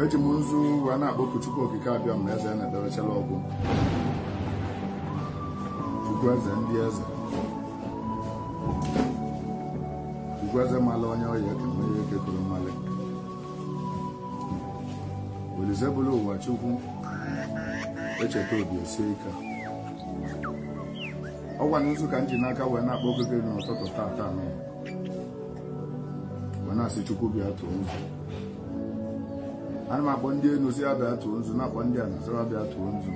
eji m nzu wee na-akpọku Chukwu Okike Abịama eze na-edewechala ọgwụ Chukwu eze ndị eze Chukwu eze mala onye ọ ya-eke ma onye eke kere mmalị Olise buru ụwa Chukwu echeta obi esie ike ọ kwanụ nzu ka m ji n'aka wee na-akpọku gị n'ụtụtụ tata nụ wee na-asị chukwu bịa tụọ nzu ana m akpọ ndị enu sị wa bịa tụọ nzu na-akpọ ndị ana sị wa bịa tụọ nzu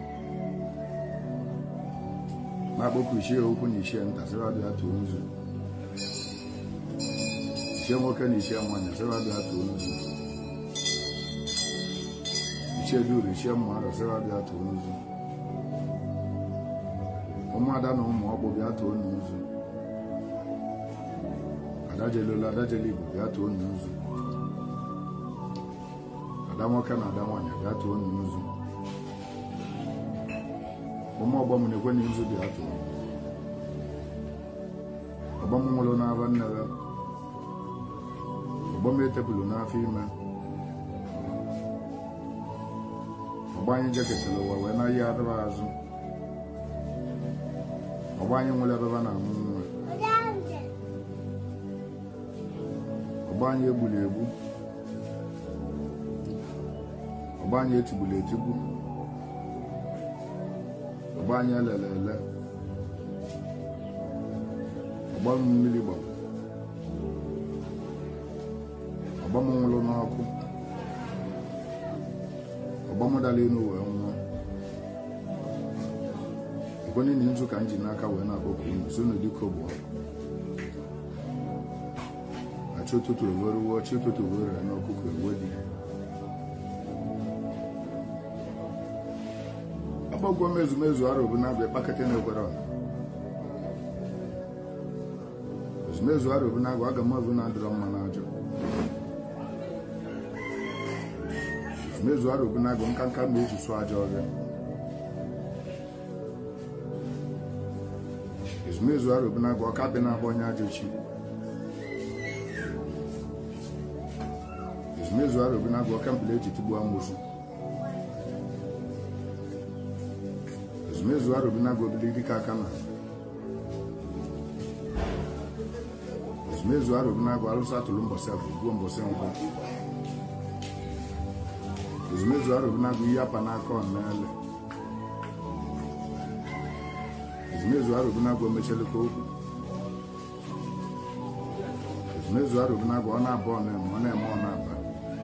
na-akpọku ichie ukwu na ichie nta sị wa bịa tụọ nzu ichie nwoke na ichie nwanyị sị wa bịa tụọ nzu ichie duru ichie mmadụ sị wa bịa tụọ nzu ụmụada na ụmụ ọkpụ bịa tụọ nzu ada jelu olu ada jelu igbo bịa tụọnụ nzu ada nwoke na ada nwaanyị bịa tụọnụ nzu ụmụ ọgbọ m nekwenụ nzu bịa tụọ ọgbọ m nwụrụ n'afọ nne ha ọgbọ m etepulu n'afọ ime ọgbọ anyị jeketara ụwa wee naghachikwa azụ ọgbọ anyị nwụrụ ebe a na-amụ nwa ọgbọ anyị egburu egbu ọgbọ anyị etigburu etigbu ọgbọ anyị elele ele ọgbọ m mmiri gbara ọgbọ m nwụrụ n'ọkụ ọgbọ m dara elu wee nwụọ ọgbọ niile nzu ka m ji n'aka wee na-akpọku unu sị unu dịka ugbu a chi ụtụtụ eworuwo chi ụtụtụ were ya n'ọkụkọ ewe dị akpọkuo m ezumezu arobinagụ bịa kpakọta na-ekwere ọha ezumezu arobinagụ agamevu na-adịrọ mma n'ajụ ezumezu arobinagụ nkanka mma eji sụọ ajọ ọhịa ezumezu arobinagụ oke akpị na-agba onye ajọ chi ezumezu arobinagụ oke mkpala eji tigbuo amosu ezumezu arobinagụ obili dịka aka na ezumezu arobinagụ alụsị a tụlụ mbọsị afọ gbuo mbọsị nkwọ ezumezu arobinagụ ihe a pa n'aka ọ na-ele ezumezu arobinagụ emechelekwa okwu ezumezu arobinagụ ọ na-aba ọ na-eme ọ na-eme ọ na-aba